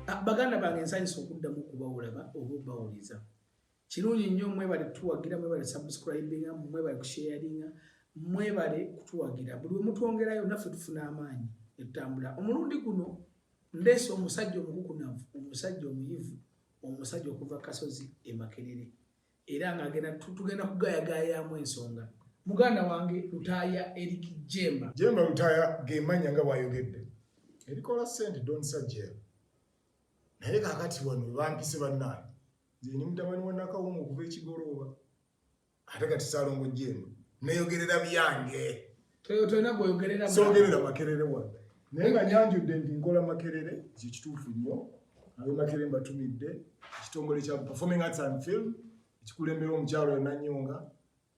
ah, baganda bange nsanyisa okuddamu okubawulaba oba obawuliza kirungi nnyo mwebale kutuwagira mwebale subscribinga mwebale kusharinga mwebale kutuwagira buli wemutwongerayo naffe tufuna amaanyi etutambula omulundi guno ndeese omusajja omukukunavu omusajja omuyivu omusajja okuva kasozi emakerere era nga agenda tugenda kugayagayamu ensonga muganda wange lutaaya erik jemba jemba lutaaya gemanya nga bwayogedde erikola sente donsajel naye kakati wano bampise bannaani nze ni mutabani wa nakawunga okuva ekigolooba ate kati salongo jemba neyogerera byange tolina gweyogerera sogerera makerere wano naye nga nyanjudde nti nkola makerere kyekituufu nnyo abe makerere mbatumidde ekitongole kya performing arts and film ekikulembera omukyalo enanyonga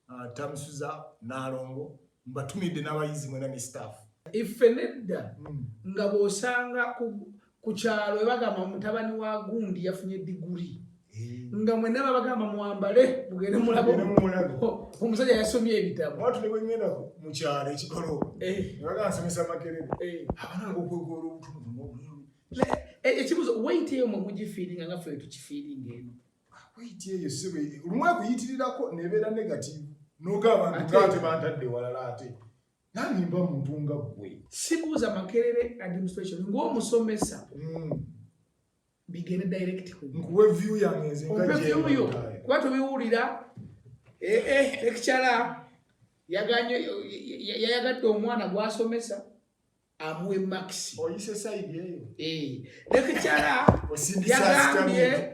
uh, tamusuza nalongo mbatumidde n'abayizi mwena ne staff iffe nedda hmm. nga bwosanga ku kyalo ebagamba mutabani wa gundi yafunye diguri eh. nga mwena babagamba mwambale mugende mulabo omusajja yasomye ebitabo watu nebwengenda mu kyalo ekikolo eh. nebagamba nsomesa makerere eh. abana ngokwegoola obutumu ekibuzo waiti eyo mwe mugifiiringa nga fe tukifiiringa eno ah, waiti eyo sibe lumu ekuyitirirako nebeera negativu noga abantu gante bantadde walala ate nange mba muntu nga gwe sibuuza makerere administration ngaomusomesa hmm. bigende direct nkuwe view yange nze nga view yo kuba tubiwulira eh eh lecturer yaganye yayagadde omwana gwasomesa amuwe max oyise side eyo eh lecturer yagambye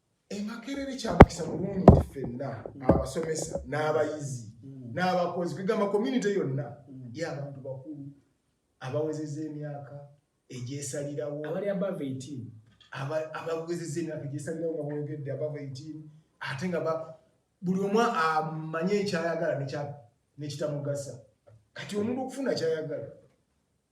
emakerere kyamukisa bulungi nti fenna abasomesa n'abayizi n'abakozi kwegamba community yonna y'abantu bakulu abawezeza emyaka egyesalirawo abali above 18 abawezeza emyaka egyesalirawo nga bwogedde above 18 ate nga buli omu amanye ekyayagala nekitamugasa kati omuntu okufuna kyayagala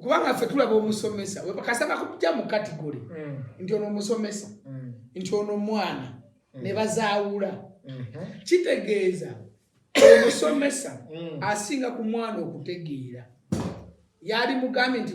kubanga ffe tulaba omusomesa kasaba kuja mu kategori mm. nti ono omusomesa mm. nti ono omwana mm. ne bazaawula mm-hmm. kitegeeza omusomesa asinga ku mwana okutegeera yali mugambye nti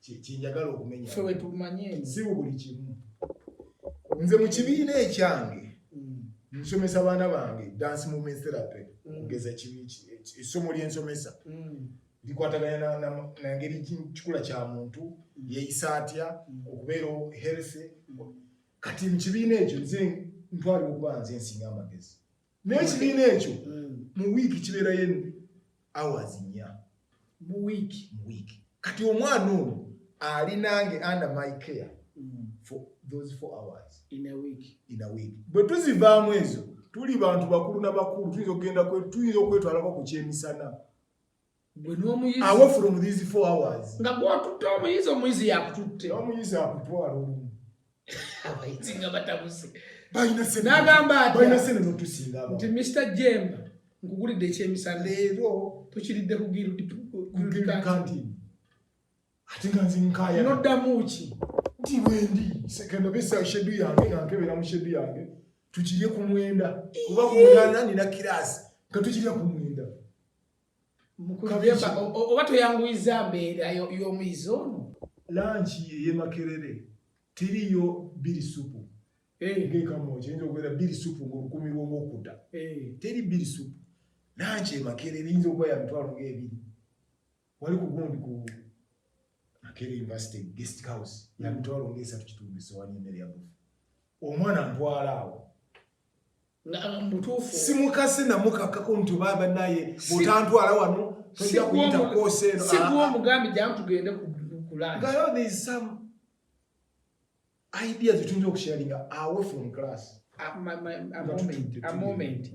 kyenjagala okumenya fe wetumanye si buli kimu nze mu kibiina ekyange mm. nsomesa baana bange dance movement therapy mm. kugeza essomo lyensomesa mm. likwatagana nangeri kikula kya muntu yeyisa atya okubeera healthy kati mu kibiina ekyo nze ntwalira okuba nze nsinga amagezi naye ekibiina ekyo mm. mu wiiki kibeerayo hours nnya mu wiiki mu wiiki kati omwana ono ali nange under my care mm. for those four hours in a week in a week bwe tuzivaamu ezo tuli bantu bakulu na bakulu tuyinza okugenda tuyinza okwetwalako ku kyemisana gwe n'omuyizi awo from these four hours nga gwatutte omuyizi omuyizi yakututte omuyizi akutwala olumu abayizi nga batabuse nagamba nti mr jemba nkugulidde ekyemisana leero tukiridde kugirudikantini ate nga nze nkaya noddamu ki nti wendi sekendo besa shedu yange nga nkebera mu shedu yange tukirye ku mwenda kuba ku munana nina kiraasi nga tukirya ku mwenda oba toyanguyiza mbeera y'omuyizi ono lanki eyemakerere tiriyo biri supu eh. ngekamoja yinza okubeera biri supu ngaolukumi lwomwokuda eh. teri biri supu lanki emakerere yinza okuba ya mitwalo ngaebiri wali kugundi ku makerere university guest house ya mitwalo ngaesatu kitundu esowani emere yabufu omwana ntwala awo simukazi namukakako nti oba banaye bwotantwala wano tojja kuyita kwosa eno sikuwa omugambi jamu tugende kulagayo there is some ideas tuyinza okusharinga away from class amoment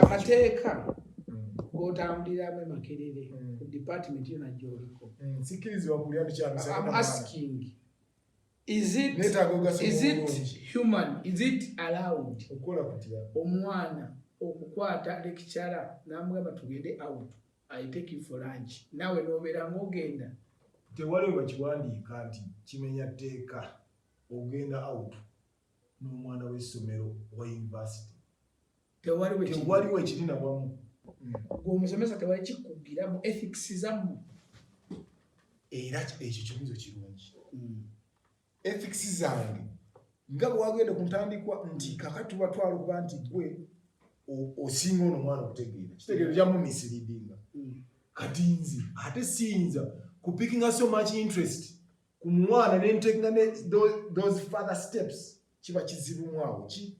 amateeka gotambuliramu emakerere ku department yona gyoliko sikiriziwa kulya tukyamisaaasking Is it, is it human? Is it allowed? Omwana okukwata lekicara namugamba tugende out I take you for lunch nawe nobeera ng'ogenda tewali wakiwandiika nti kimenya tteeka ogenda out n'omwana w'essomero wa yunivasite tewaliwo ekiri nawamu gwe omusomesa tewali kikugira mu ethics zamu era ekyo kibuzo kirungi hmm. ethics zange nga bwewagenda ku ntandikwa nti kakati batwala okuba nti gwe osinga ono omwana okutegeera kitegeero kyamumisiriidinga hmm. kati nze ate siyinza kupikinga so much interest ku mwana nentekinga those father steps kiba kizibu mwawo ki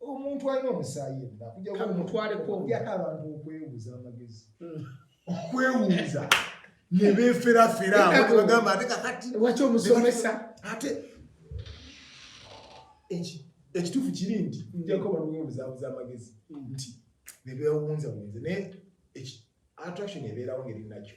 omuntu alina omusaayi yenna kujjakujaku abantu okwebuuza amagezi hmm. okwewuuza ne beeferafera bagamba ate kakati waki omusomesa ate ekituufu kiri nti hmm. njako baliwo obuzaabuza amagezi hmm. nti ne beewunza bunze naye attraction ebeerawo ngeri nakyo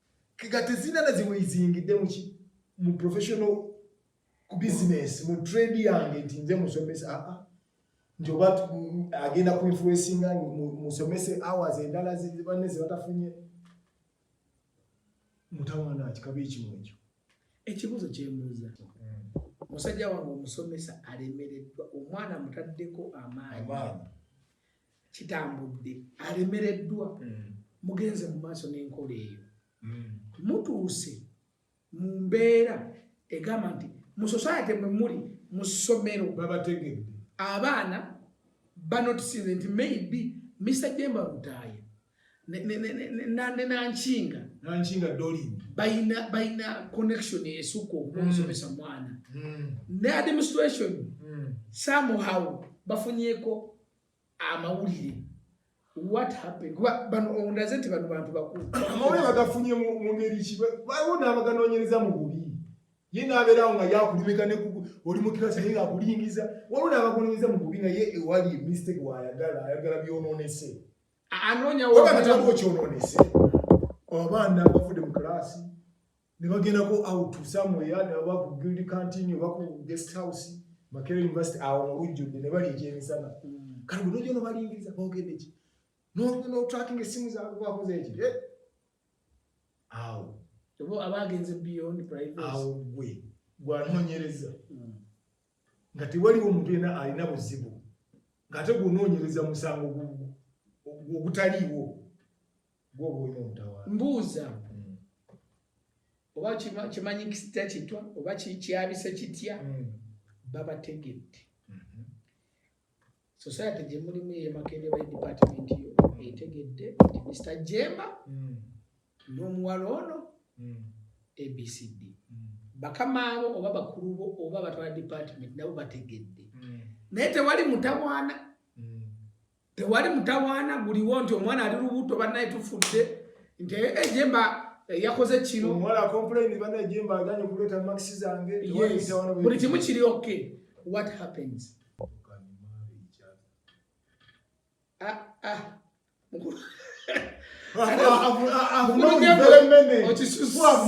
kega tezina na ziwe izingide mu ki mu professional ku business mu trade yange nti nze musomesa a ah, a ah. nti oba agenda ku influencing musomese hours endala zibanne zibatafunye mutawana kikabe ekimu ekyo ekibuzo kyembuza musajja wange omusomesa alemereddwa omwana mutaddeko amaanyi kitambudde alemereddwa mm. mugenze mu maaso n'enkola eyo mm. mutuuse mu mbeera egamba nti mu society mwe muli mu ssomero babategedde abaana banotisinze nti maybe mr jemba lutaaya nenankinga nankinga dolin bayina bayina connection esukka okumusomesa mm. mwana ne administration somehow bafunyeko amawulire what happened bano ondaze nti bano bantu bakulu amawulire bagafunye mu ngeri ki baliwo n'abaganoonyereza mu bubi ye n'abeerawo nga yakulimika ne oli mu kirasi naye ng'akulingiza waliwo n'abaganoonyereza mu bubi nga ye ewali mistake waayagala ayagala byonoonese anoonyawo kyonoonese abaana bavudde mu kiraasi ne bagendako out somewhere ne baba ku guild canteen oba ku guest house Makerere University awo mu lujjudde ne bali ekyemisana hmm. kati bwe nojja nobalingiriza boogedde ki notracking essimu zaabwe bakoze eki eh? awo oba abaagenze beyond privacy awo gwe gwanoonyereza hmm. nga tewaliwo omuntu yena alina buzibu ng'ate gwonoonyereza musango ogutaliiwo mbuuza hmm. oba kimanyi kisita kitwa oba kyabise kitya hmm. babategedde hmm. society gye mulimu yemakende ba department yo etegedde nti mr jemba n'omuwala ono abcd bakama abo oba bakulu bo oba batwala department nabo bategedde naye tewali mutawaana tewali mutawaana guliwo nti omwana ali lubuto banaye tufudde nti ejemba eh, eh, yakoze kinobuli kimu kiri ok what happens ah, ah. okisusa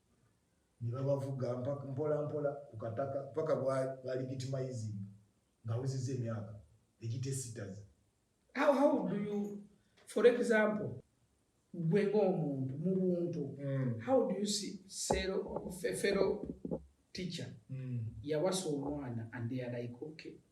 ne babavuga mpola mpola ku kataka paka balegitimayizi nga awezezza emyaka egitesitaza how how do you for example gwe ng'omuntu mu buntu mm. how do you see sero fefero teacher mm. yawasa omwana and they are like okay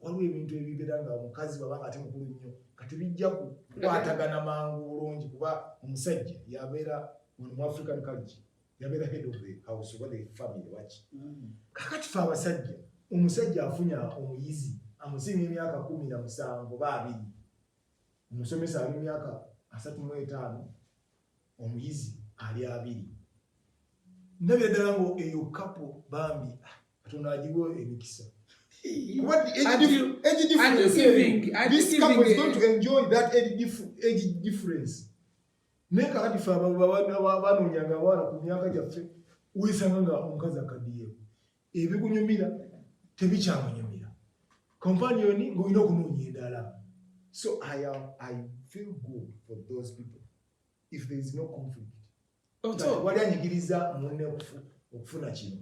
waliwo ebintu ebibera nga omukazi baba nga ate mukulu nnyo kati bijja kukwatagana mangu bulungi kuba omusajja yabeera mu african culture yabeera head of the house oba the family waki mm. kakati fe abasajja omusajja afunya omuyizi amusinga emyaka kumi na musanvu oba abiri omusomesa ali myaka asatu mu etaano omuyizi ali abiri ndabira ddala nga eyo kapo bambi ah, katonda agiwo emikisa naye kakati fe abanonyanga abaana ku myaka gyaffe wesanga nga omukazi akadiyeko ebikunyumira tebikyamunyumira kompaniyoni ng'olina okunoonya endala so I, am, i feel good for those people if there is no conflict oh, wali anyigiriza munne okufuna kino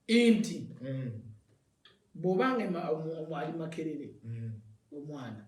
nti mm. bwobanga ali makerere mm. omwana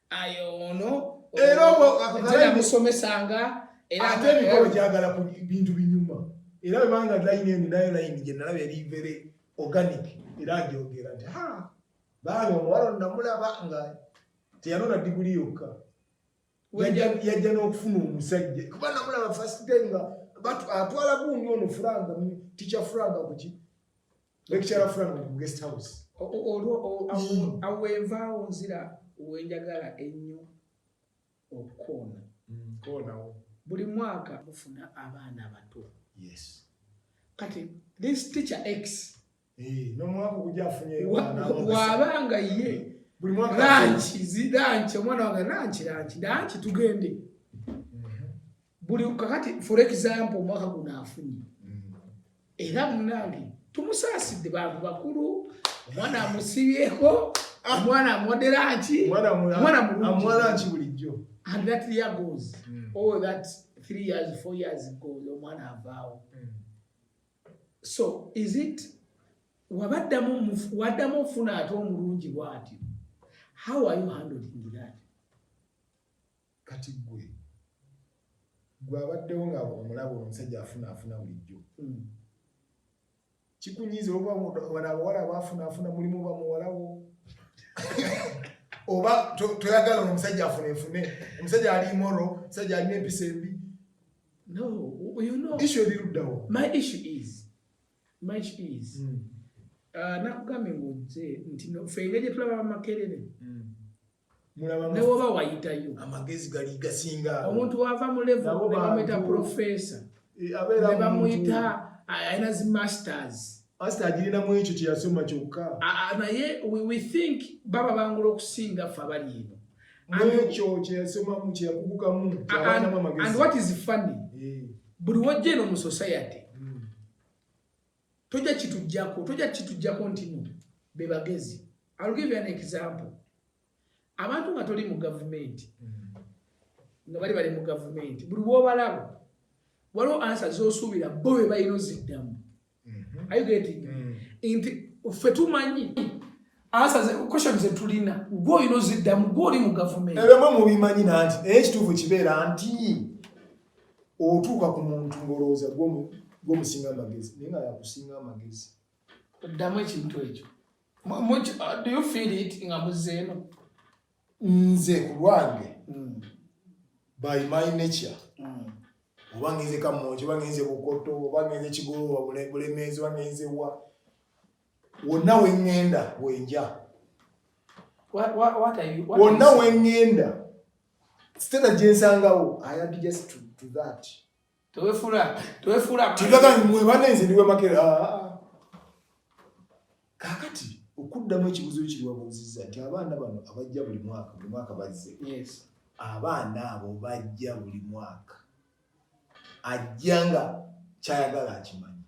ayo ono era obwakugalamusomesanga ate emikolo gyagala ku bintu binyuma era webanga line eno nayo line gyenalaba eri very organic era agyogera nti ha baana omuwala onamulaba nga teyanona diguli yokka yajja n'okufuna omusajja kuba namulaba first time nga atwala gundi ono furanga tikya furanga kuki lecturer frank mu guest house olwo mm. awo envaawo nzira wenjagala ennyo okukoona mm, koonawo buli mwaka mufuna abaana abato yes kati this teacher x eh, nomwaka oguja afunye wabanga ye buli mwaka lanchi zilanchi omwana wange lanchi lanchi lanchi tugende buli kakati for example omwaka guno afunye era munange tumusaasidde bantu bakulu omwana amusibyeko omwana amwodera nki omwana mulungiamwala nki bulijjo and that year goes mm. oh that three years four years goes omwana avaawo mm. so is it wabaddamu waddamu ofuna ate omulungi bwati how are you handling that Kati gwe gwe abaddewo nga omulaba omusajja afuna afuna bulijjo kikunyiiza oba wano abawala abafuna afuna mulimu oba muwalawo oba toyagala ono omusajja afuna efune omusajja ali moro omusajja alina empisa embi issu eriruddawo hmm. ah, nakugambye ngaojje nti fe engeri gyetulaba bamakerere hmm. newoba wayitayo amagezi gali gasinga omuntu wava mu levo nebamuyita profesa e, nebamuyita alina zi masters pasita agirinamu ekyo kyeyasoma kyokka naye we think baba bangula okusinga fe abali eno nekyo kyeyasomamu kyeyakugukamu and what is funny eh. buli wajja eno mu society hmm. toja kitujjako toja kitujjako ntino bebagezi I'll give you an example abantu nga toli mu gavumenti nga bali bali mu gavumenti buli wobalaba waliwo ansa zosuubira bo be balina oziddamu mhm. ayogeti mm. nti ffe tumanyi ansa question zetulina gwe olina oziddamu gwe oli mu gavumenti ebyo mwe mubimanyi nanti naye ekituufu kibeera nti otuuka ku muntu ng'olowooza gwomusinga amagezi naye nga yakusinga amagezi oddamu ekintu ekyo uh, nga muzeeno nze ku lwange hmm. by my nature hmm. oba ngenze kamonki oba ngenze bukoto oba ngenze kigoloba bulemeezi oba ngenze wa wonna wengenda wenja wonna wengenda Stella jensangawo I am just to, to that. Tewefula, tewefula. Tigaga mwe banenze ndiwe makere. Ah, ah, ah. Kakati okuddamu ekibuzo ekiriwa bunziza nti abaana bano abajja buli mwaka buli mwaka bazze. Yes. Abaana abo bajja buli mwaka. Ajja nga kyayagala akimanyi.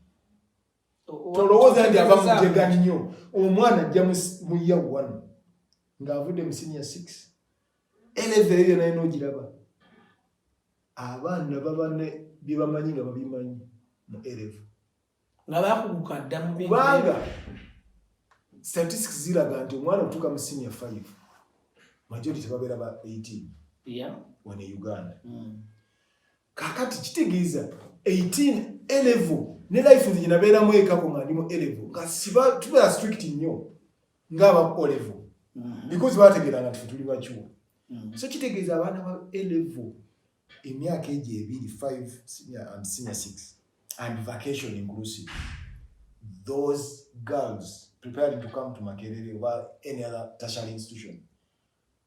Tolowooza nti aba mujega nnyo. Omwana ajja mu year one ng'avudde mu senior six. Eleza eyo naye nogiraba abaana baba ne bye bamanyi nga babimanyi mu elevu nga bakuguka dda mu kubanga statistics ziraga nti omwana otuuka mu senior five majority tebabeera ba 18 yeah. wano e uganda mm. kakati kitegeeza 18 elevu ne life nze gyenabeeramu ekako nga ndi mu elevu nga siba tubeera strict nnyo ngaba olevo mm-hmm. because bategera nga tuli bachuo mm-hmm. so kitegeza abana ba elevo emyaka eje ebiri 5 senior and senior 6 and vacation inclusive those girls preparing to come to makerere or any other tertiary institution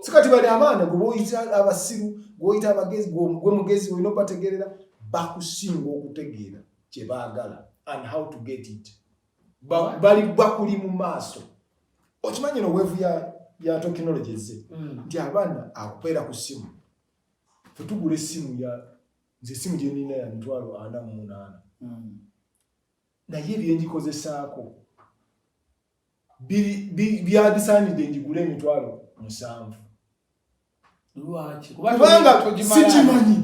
sikati bali abaana gwe boyita abasiru gwoyita abagezi gwe mugezi olina obategerera bakusinga okutegeera kye baagala and how to get it bali bakuli mu maaso okimanyi no weevu ya, ya tekinologi ezze mm. nti mm. abaana akupeera ku ssimu fetugula essimu ya nze essimu gyenina ya mitwalo ana mu munaana mm. naye ebyengikozesaako byabisaanidde ngigule emitwalo musanvu kubanga sikimanyi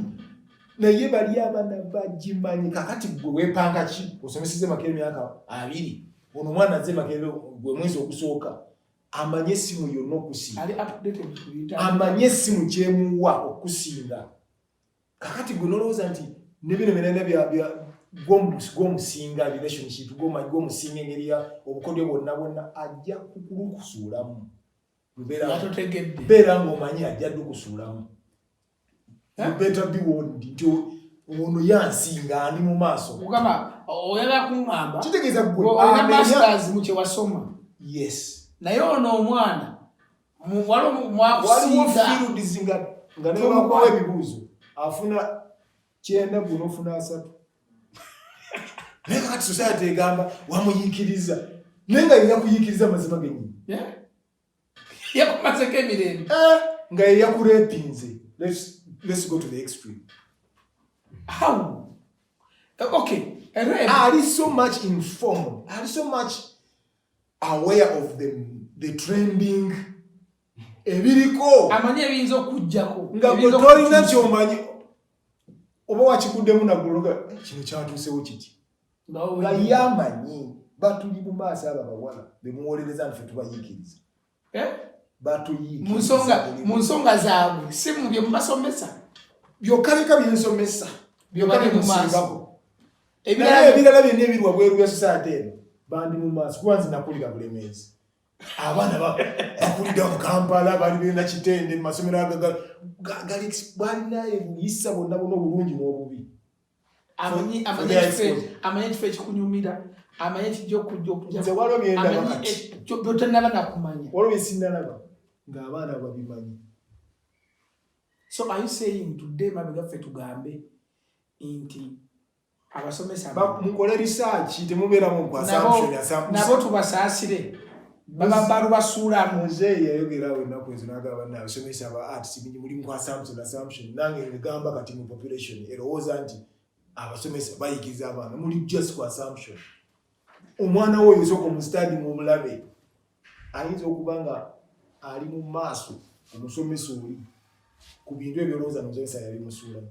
naye bali abana bagimanyi kakati gwe wepanga ki osomeseze maka emyaka abiri ono omwana aze maka gwe mwezi ogusooka amanye esimu yonna okusinga amanye esimu gyemuwa okusinga kakati gwe nolowooza nti ne bino byonna byabya gwomusinga relationship gwomanyi gwomusinga engeri ya obukodyo bwonna bwonna ajja kukulukusuulamu mbeera ngaomanyi ajja dukusuulamu beta biwondi nti ono yansinga ani mu maaso mukama oyala kuŋamba kitegeeza gwe masters mu kyewasoma yes naye ono omwana waliwo fields nga nga nebakuwa ebibuuzo afuna kyenda guno ofuna asatu naye kakati society egamba wamuyikiriza naye nga yina kuyikiriza amazima genyini yakumazeko emirembe eh, nga yeyakurepinze let's go to the extreme how eh, okay eh, ali so much informed ali so much aware of the, the trending ebiriko amanyi ebiyinza okujjako nga gwe tolina kyomanyi oba wakikuddemu naguloga eh, kino kyatuusewo kiti nga yamanyi batuli mu maaso abo abawala bemuwolereza nfe tubayiikiriza eh? mu nsonga zaabwe si mu bye mubasomesa byokka bika byensomesa byobali mu maaso ebirala byonna ebiri wabweru bya sosaate eno bandi mu maaso kuba nze nakulira bulemeezi abaana bakulira mu kampala bali bena kitende mu masomero agagali balina ebuyisa bonna bona obulungi n'obubi amanye ekifo ekikunyumira amanye kijja okujja okujabyotanaba nakumanya waliwo byesinalaba ng'abaana babimanyi so are you saying today mabegaffe tugambe nti abasomesa mukole risaaki temubeera munkwasnabo tubasaasire bababalu basuula muzeeyi yayogerawo ennaku ezo nagamba naye abasomesa aba arts bingi mulimu ku assumption assumption nange ngamba kati mu population erowooza nti abasomesa bayigiza abaana muli just ku assumption omwana wo oyinsoka omustadi mu omulabe ayinza okuba nga ali mu maaso omusomesa oli ku bintu ebyolowooza nomusomesa yali musuulamu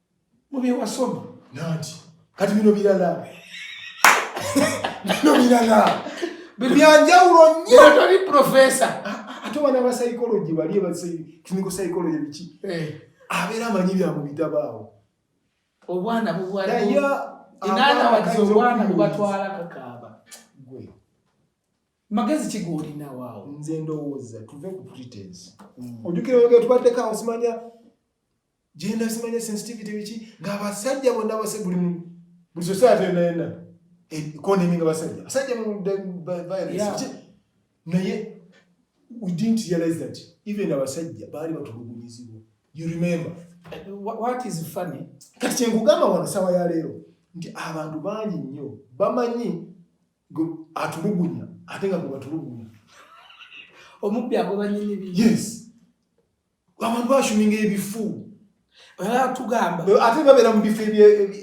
mubyewasoma nanti kati bino birala bino birala byanjawulo nnyo toli profesa ate wana ba psychology bali eba clinical psychology biki eh. abeera amanyi bya mu bitabo awo obwana bubwanaye inaana wagize obwana bubatwala kakaaba gwe magezi kigolina waawo nze ndowooza tuve ku pretense mm. ojukira oyogera tubaddeko awo simanya genda simanya sensitivity biki nga abasajja bonna abase buli mu buli society yonna yonna economy nga basajja basajja mu violence naye we didn't realize that even abasajja baali batulugunyizibwa you remember uh, what is funny kati kyenkugamba wano sawa ya leero nti abantu bangi nnyo bamanyi atulugunya ate nga gwe batulugunya omubbi agobanyi nibi yes abantu bashuminga ebifu tugamba ate babeera mu bifo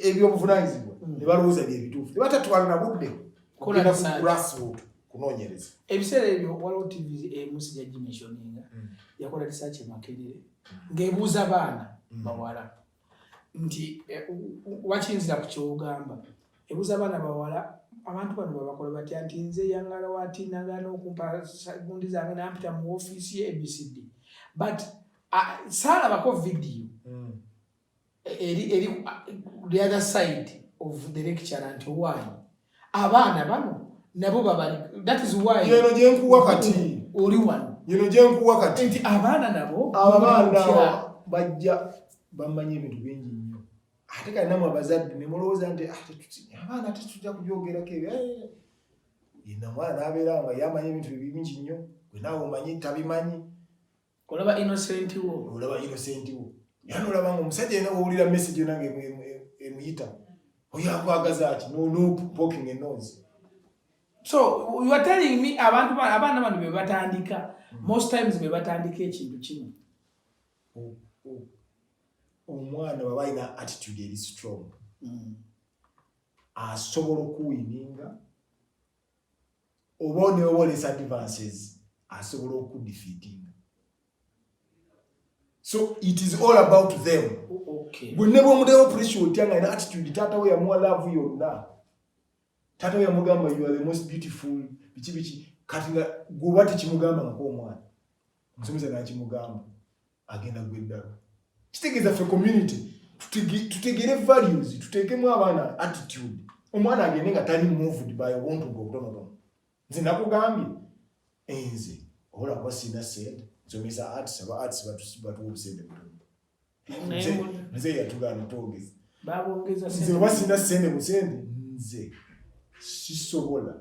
ebyobuvunanyizibwa hmm. ne balowooza byebituufu ne batatwala na budde kugenda ku grassroot kunoonyereza ebiseera ebyo waliwo tv emusi eh, yagimeshoninga hmm. yakola risaaki emakerere hmm. ng'ebuuza baana bawala nti eh, wakinzira ku kyogamba ebuza abaana bawala abantu bano babakola batya nti nze yangala wati nagana okumpa gundi zange nampita mu ofiisi ye abcd but ah, saalabako vidiyo hmm. eri eri the other side of the lecture nti owanyi abaana bano nabo babali that is why yeno jenkuwa kati oli wano yeno jenkuwa kati nti abaana nabo abaana bajja bamanya ebintu bingi nnyo ate kali namwe abazadde ne mulowooza nti ah, abaana tetujja kubyogerako ebyo eh. yena mwana abeera nga yamanya ebintu bingi nnyo gwe naawe omanyi tabimanyi olaba innocent wo olaba innocent wo yani olaba nga omusajja yena wowulira message yona nga emuyita oyo akwagaza ki nopoking enose so you are telling me abantu abaana bano bebatandika hmm. most times bebatandika ekintu kimu oh, oh. omwana baba alina attitude eri strong hmm. asobola okuwininga oba onewolesa advances asobola okudefeatinga so it is all about them gwe ne bwomudewo pressure otya nga ina attitude taata we yamuwa love yonna taata we yamugamba you are the most beautiful biki biki kati nga gwoba tekimugamba ngakoomwana omusomesa nakimugamba agenda gwa eddalu kitegeeza ffe community tutegere values tuteekemu abaana attitude omwana agende nga tali moved by obuntu bwe obutonotono nze nakugambye enze obola kuba sirina sente nsomesa arts aba arts batuwa obusente butono nze yatugaana twogeza nze oba sirina sente busente nze sisobola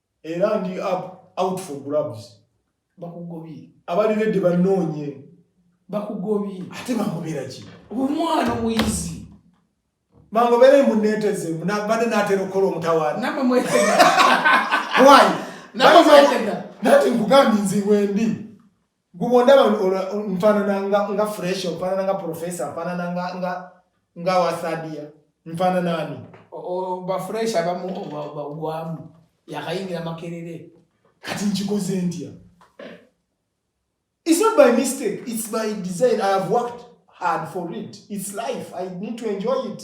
era ndi up out for grabs bakugobye abali redde banoonye bakugobye ate bamubera ki omwana muyizi bangobera emuneteze bade natera okukola omutawaana namwe mwetega why namwe mwetega nati nkugambye nziwendi Gwe bw'ondaba nfaanana nga nga fresh nfaanana nga professor nfaanana nga nga nga wasadia nfaanana ani ba fresh abamu bagwamu yakayingira makerere kati nkikoze ntya it's not by mistake it's by design i have worked hard for it it's life i need to enjoy it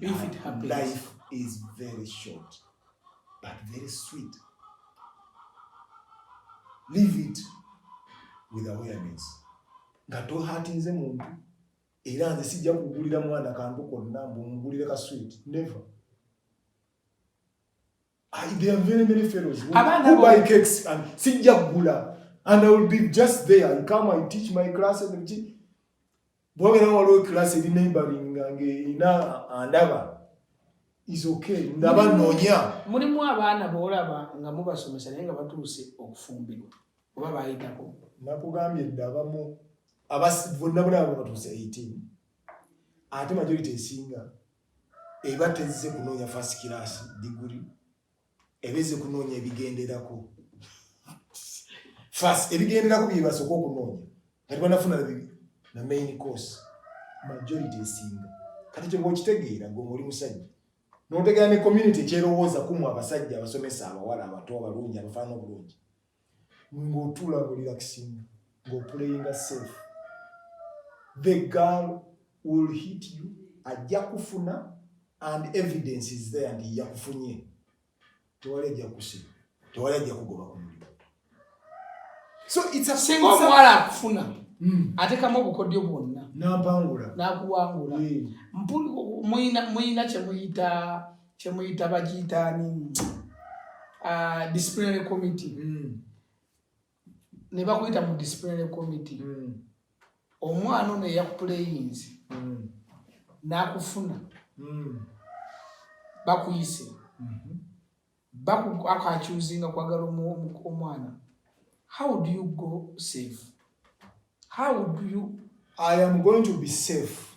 If it happens. Life is very short, but very sweet. Live it with awareness. Nga tohatinze muntu era nze sijja kugulira mwana kantu konna mbu mugulire ka sweet never I, there are very many fellows who, who buy cakes and sijja kugula and I will be just there I come I teach my classes and bwabera waliwo class eri neighboring nga ng'erina andaba is okay ndaba noonya mulimu abaana boolaba nga mubasomesa naye nga batuuse okufumbirwa oba baayitako nakugambye dda abamu bonna bona abo batuuse 18 ate majority esinga eba tezze kunoonya first class diguli ebeze kunoonya ebigenderako fas ebigenderako byebasooka okunoonya kati banafuna na main course majority esinga kati kyoba okitegeera gwe oli musajja notegeera ne community ekyerowooza kumu abasajja abasomesa abawala abato abalungi abafaana obulungi ng'otuula nga olirakisinga ng'opuleyinga safe the girl will hit you ajja kufuna and evidence is there nti yakufunye tewali ajja kusiba tewali ajja kugoba ku mulimu so it's a singa omuwala akufuna hmm. atekamu obukodyo bwonna nampangula nakuwangula hmm. muyina kyemuyita kyemuyita bagiyitaani ah, disciplinary committee mm. ne bakuyita mu disciplinary committee mm. omwana ono eyakupuleyinzi mm. n'akufuna bakuyise mm-hmm. akakyuzinga kwagala omwana how do you go safe how do you i am going to be safe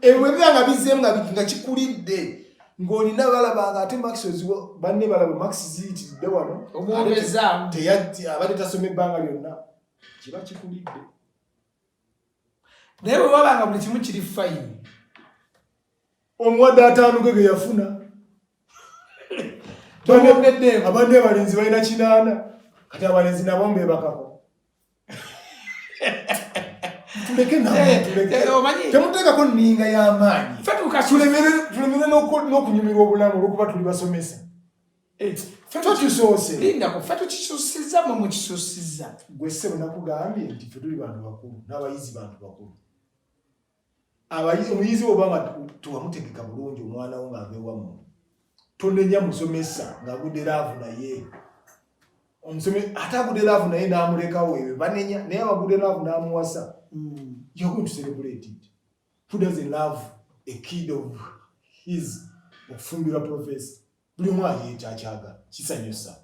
ebwe eh, biba nga bizeemu nga biki nga kikulidde ng'olina balaba nga ate max oziwa banne balaba max ziyitiridde wano omwogezaamu teyajja abadde tasoma ebbanga lyonna kiba kikulidde naye bwe waba nga buli kimu kiri fayini omuwadde ataanuge ge yafuna abadde abalenzi balina kinaana kati abalenzi nabo mbebakako tuleke namuteekako eh, eh, nninga y'amaanyi tulemere n'okunyumirwa obulamu olwokuba tuli basomesa eh, fe tukisusiza mwe mukisusiza gwe ssebo nakugambye nti fe tuli bantu bakulu n'abayizi bantu bakulu abayizi omuyizi oba nga tewamutegeka bulungi omwana wo ng'ava ewamu tonenya musomesa ng'agudde laavu naye omusomesa ate agudde laavu naye n'amulekawo ebyo banenya naye abagudde laavu n'amuwasa hmm. you're going to celebrate it who doesn't love a kid of his okufumbirwa professor buli omu ayeekyakyagala kisanyusa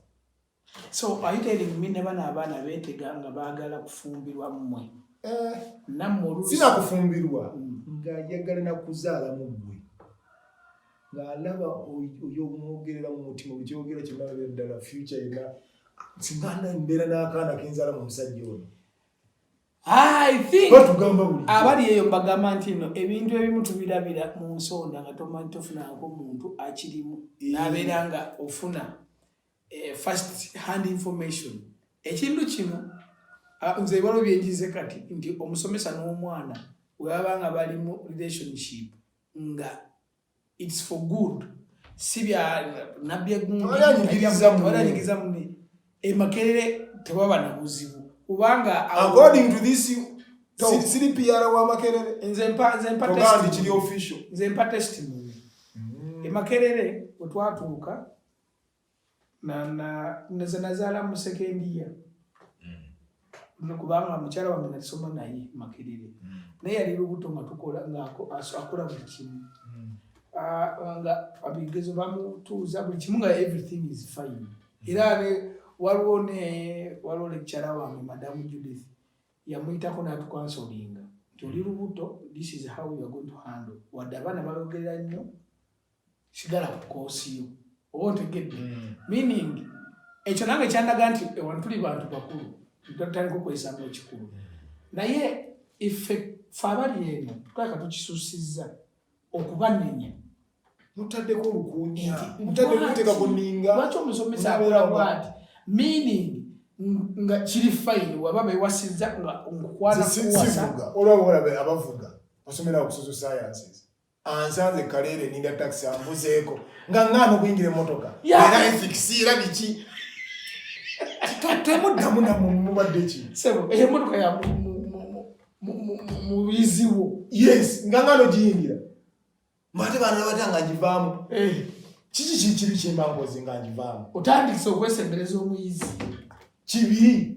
So are you telling me never na abana betega nga bagala kufumbirwa mmwe? Eh, namwe olusi. Sina kufumbirwa mm. nga yagala na kuzaala mu mmwe. Nga alaba oyo mwogerera mu mutima okyogera kyonna bebe ddala future yena singanda mbeera n'akaana kenzala mu musajja ono. I think abali eyo mbagamba nti no ebintu ebimu tubirabira mu nsonda nga tomanyi tofunako muntu akirimu eh. nabeera nga ofuna eh, first hand information ekintu kino ah, nze ebalo byenjize kati nti omusomesa n'omwana webaba nga bali mu relationship nga its for good si bya nabbi egumbiriza mune emakerere tewaba na buzibu kubanga according to this siri pr wa makerere nze mpa nze mpa test kiri official nze mpa testimony mm. emakerere otwatuuka nze nazaala mu sekendiya mm. kubanga mukyala wange nasoma naye makerere mm. naye yali lubuto nga tukola ngaakola buli kimu mm. ah, nga abigezo bamutuuza buli kimu nga everything is fine era ne waliwo ne waliwo lekikyala wange madamu judith yamuyitako natukansolinga nti oli lubuto this is how youare going to handle wadde abaana bayogerera nnyo sigala ku koosi yo oba otegedde hmm. meaning ekyo nange kyandaga nti ewantu tuli bantu bakulu tutandika okwesamu ekikulu hmm. naye ife fe abali eno tulaka tukisusiza okubanenya mutaddeko olukunya mutaddekuteka kuninga lwaki omusomesa akola bwati meaning nga kiri fayini waba bewasinza nga nkukwana kuwasa olwaba olabe abavuga osomera okusoso sciences ansanze kaleere ninda taxi ambuzeeko nga ngaana okuyingira emotoka era efikisi era biki temuddamu namumubadde ki sebo eyo emotoka ya muyiziwo yes nga ngaana ogiyingira mate baana nabata nga ngivaamu eh. kiki kikibi kyembangozi nga ngivaamu otandikisa okwesembereza omuyizi kibi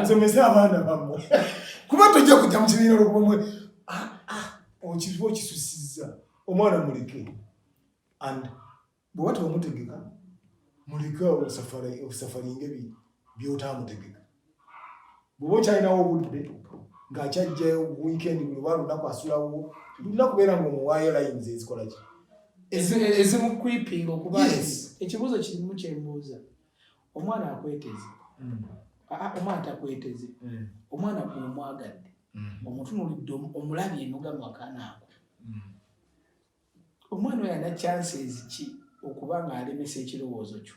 musomese abaana bamwe kuba tojja kujja mu kibiina olwobumwe ah, ah, okiba okisusiza omwana muleke and bweba tebamutegeka muleke osafalinge byotamutegeka bwoba okyalinawo obudde ng'akyajjayo wiikendi buli oba lunaku asulawo tulina kubeera ngaomuwaayo layini zezikola ki ezimukwipinga okuba ekibuuzo kirimu kyembuuza omwana akweteze hmm. omwana takweteze hmm. omwana gwomwagadde hmm. omutunulidde omulabye nogamu akanaako omwana oyo ana chances ki okuba ng'alemesa ekirowoozo kyo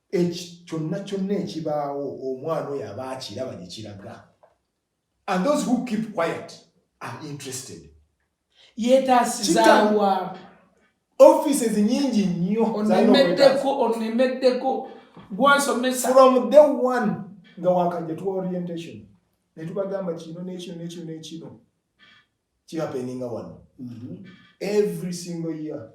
eki kyonna kyonna ekibaawo omwana oyo aba akiraba gye kiraga and those who keep quiet are interested yeetaasizaawa offices nyingi nnyo onemeddeko onemeddeko gwasomesa from day one nga wakajja tuwa orientation ne tubagamba kino n'ekino n'ekino n'ekino kihapeninga wano mm-hmm. every single year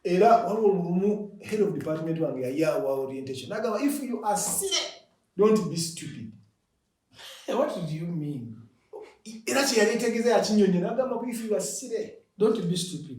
era waliwo lumu head of department wange yayawa orientation nagamba if you are silly don't be stupid eh, what do you mean era kyeyali etegeza yakinyonyo nagamba if you are silly don't be stupid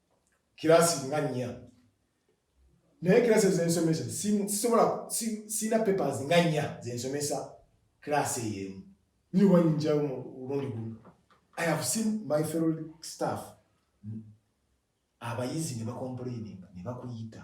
kirasi nga nnya naye kirasi ezo zensomesa sisobola sirina papers nga nnya zensomesa kirasi eyo emu niwa nyinjawo mu lundi gumu i have seen my fellow staff abayizi ne bakomplaininga ne bakuyita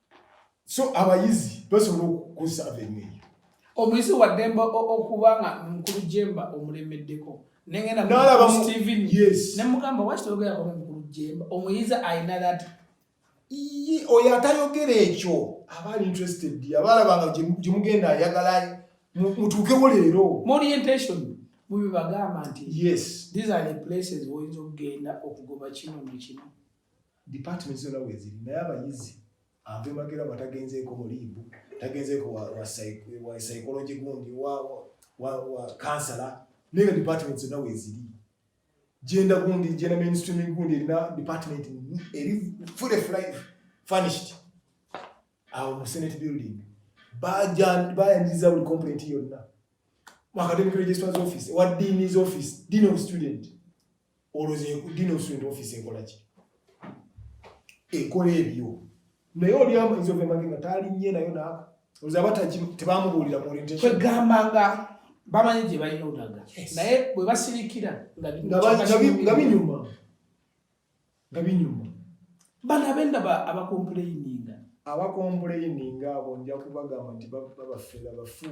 so abayizi basobola okukusaba enyo eyo omuyizi waddemba okuba nga mukulu jemba omulemeddeko nengendanemugamba waki toyogerako mukulu jemba omuyizi alina that oyo atayogera ekyo aba ali interested abalabanga gyemugenda ayagala mutuukewo leero morientation mubibagamba nti yes these are the places woyinza okugenda okugoba kino nekino Department zona weziri naye abayizi ave magera nga tagenzeeko mu liibu tagenzeeko wa psychology gundi wa kansala naye nga department zonna weziri genda gundi genda mainstream gundi erina department eri fully furnished awo mu senate building bayaniriza buli complaint yonna mu academic registrars office wa dean's office dean of student oloze dino student office ekola ki ekola ebyo naye oli amanzi ove mage nga taali nye nayo naaka oloze abataki tebamubuulira mu orientation kwegamba nga bamanyi gye balina olaga naye bwe basirikira nga binyuma nga binyuma bano abendaba abakompuleyininga abakompuleyininga abo nja kubagamba nti babafera bafu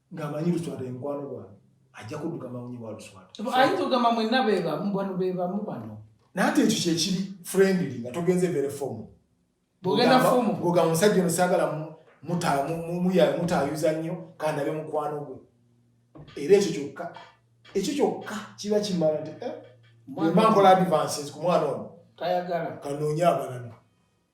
ng'amanyi luswata ye mukwano gwange ajja kudduka mawunyi wa luswata ayinza ogamba mwenna bebamu bano bebamu bano naye ate ekyo kyekiri friendly nga togenze vere fomu bogenda fomu goga musajja ono saagala mutayuza nnyo kandabe mukwano gwe era ekyo kyokka ekyo kyokka kiba kimala nti eh, mba nkola advances ku mwana ono kanoonye abalala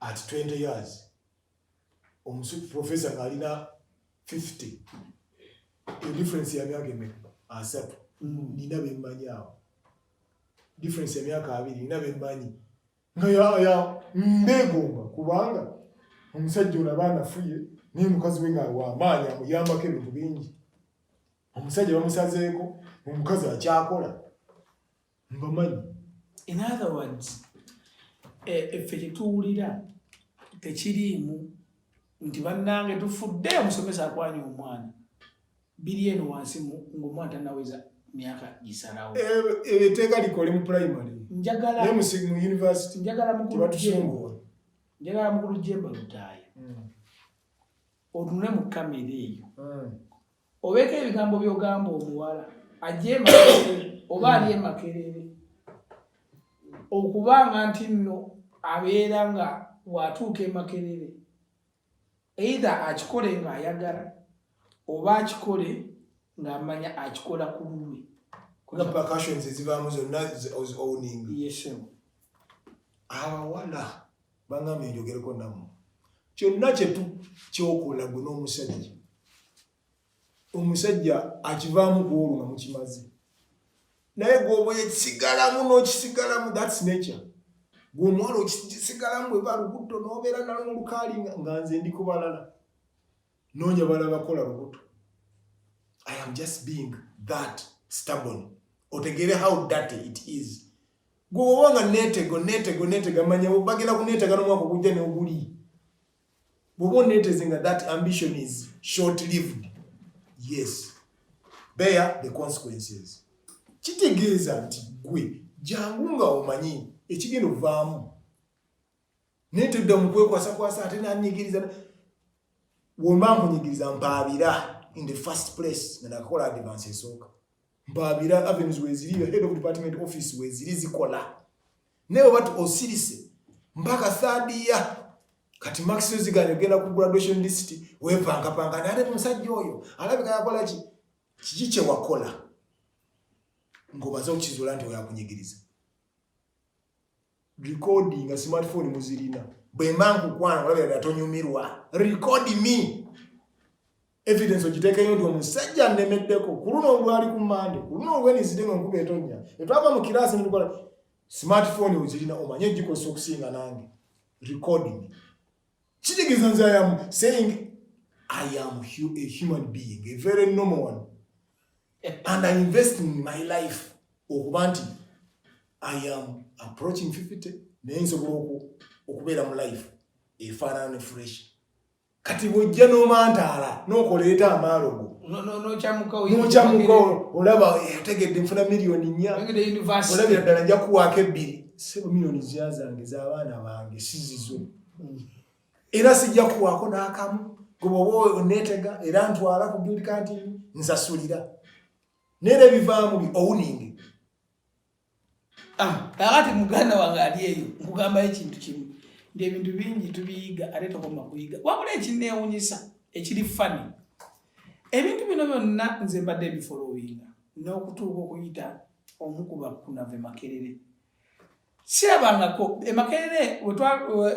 at 20 years omusu professor ngalina 50 the difference ya myaka eme asatu mm. nina bemmanyi awo difference ya myaka abiri nina bemmanyi nga yaya mbegomba kubanga omusajja ono aba anafuye naye mukazi we nga wamaanyi amuyambako ebintu bingi omusajja bamusazeeko omukazi akyakola mbamanyi in other words effe eh, kyetuwulira tekiriimu nti bannange tufudde omusomesa akwanya omwana biri eno wansi ngaomwana tanaweza myaka gisalawo ebiteeka eh, eh, likole mu primary njagala mu university njagala mukulu jemba njagala mukulu jemba lutaaya hmm. otunule mu kamera eyo hmm. Obeeko ebigambo by'ogamba omuwala ajja emakerere oba ali emakerere okuba nga nti nno abeera nga watuuka emakerere eitha akikole ng'ayagala oba akikole ng'amanya akikola ku lulwe abawala Bangambye njogereko nammwe kyonna kyetu kyokola gwe n'omusajja omusajja akivaamu kuolwo nga mukimaze naye gwoba ekisigalamu n'okisigalamu thats nature gwe omuwala okisigalamu eba lubutto n'obeera nalo mu lukaali nga nze ndi kubalala Nonya bala bakola lubuto. I am just being that stubborn. Otegere how dirty it is. Gwoba nga netego netego netega manya bagenda kunetega nomwaka ogujja ne oguli. Bwoba oneteze nga that ambition is short lived. Yes. Bear the consequences. Kitegeeza nti gwe jangu nga omanyi ekigenda ovaamu naye tudda mu kwekwasakwasa ate nanyigiriza womba nkunyigiriza mpaabira in the first place nga nakakola advance esooka mpaabira avenues weziri your head of department office weziri zikola naye oba osirise mpaka third year kati maxi ziganye ogenda ku graduation list wepangapanga nate musajja oyo alabika yakola ki kiki kyewakola ngobaze okukizula nti oyakunyigiriza recording nga smartphone muzirina bwemba nkukwana olabira dala tonyumirwa record me evidence ogitekeyo nti omusajja nnemeddeko ku luno olwali ku mande ku luno olwenizide nga nkuba etonya etwava mu kiraasi nitukola smartphone ozirina omanye egikosa okusinga nange recording Kitegeza nze I am saying I am a human being, a very normal one. And I invest in my life okuba nti I am approaching 50 naye nsobola okubeera mu life efaanana ne fresh kati bwojja n'omantaala n'okoleeta amaalo go nokyamuka olaba yategedde eh, nfuna miliyoni nnya olabira ddala nja kuwaako ebbiri sebo miliyoni zya zange z'abaana bange sizizo era sijja kuwaako n'akamu gweoba oneetega era ntwala ku bild kantin nsasulira neera ebivaamu bi owuninge ah, kakati muganda wange ali eyo nkugambayo ekintu kimu nti ebintu bingi tubiyiga ate tokoma kuyiga wabula ekineewunyisa ekiri fani ebintu bino byonna nze mbadde ebifolowinga n'okutuuka okuyita omu ku bakunave makerere sirabangako emakerere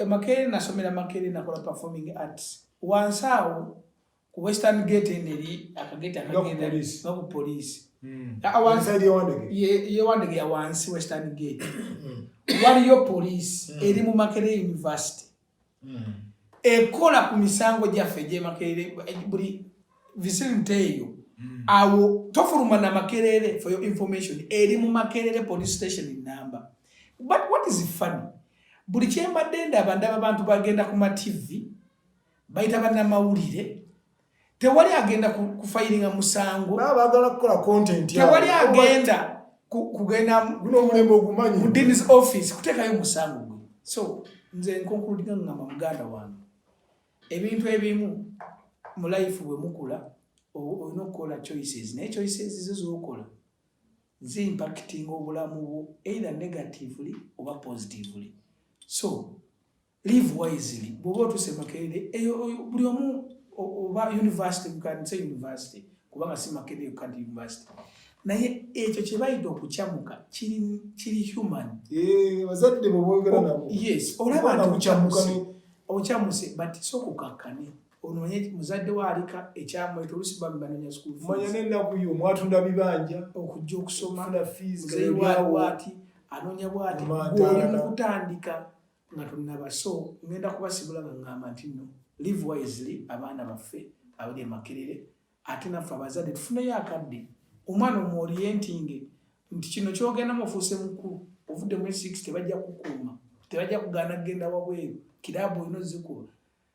emakerere nasomera makerere nakola performing arts wansi awo ku western gate eno eri akageti akagenda noku poliisi hmm. yewandege ya wansi western gate hmm. waliyo poliisi hmm. eri mu makerere university hmm. ekola ku misango gyaffe egyemakerere buli vicinity eyo hmm. awo tofuluma na makerere for your information eri mu makerere police station number but what is funny buli kyembadde ndaba ndaba abantu bagenda ku mativi bayita bannamawulire tewali agenda kufayiringa musango bagala kukola content tewali agenda kugenda munomulembe ogumanyi mudini's office kutekayo musango gwe so nze nkonkuludinga ngamba muganda wange ebintu ebimu mu life bwe mukula olina okukola choices naye choices zo zokola zi impacting obulamu bwo either negatively oba positively so Live wisely. Bwoba otuse makerere eyo buli omu oba university you can say university kubanga si makerere you can't university. Naye ekyo kye bayita okucamuka kiri kiri human. Eh, bazadde bo boogera oh, nabo. Yes, olaba nti okucamuka ocamuse but so kukakkane ononye muzadde waalika ekyamweta olusi bami banonya sukulumanya nenaku yo mwatunda bibanja okujja okusoma funa fiiziwaliwati anonya bwati gwolimukutandika nga tunnaba so ngenda kubasibula nga ngamba nti nno live wisely abaana baffe abali emakerere ate naffe abazadde tufuneyo akadde omwana omuorientinge nti kino kyogendamu ofuuse mukulu ovudde mu six tebajja kukuuma tebajja kugaana kugenda wabweru kiraabu olina ozikuba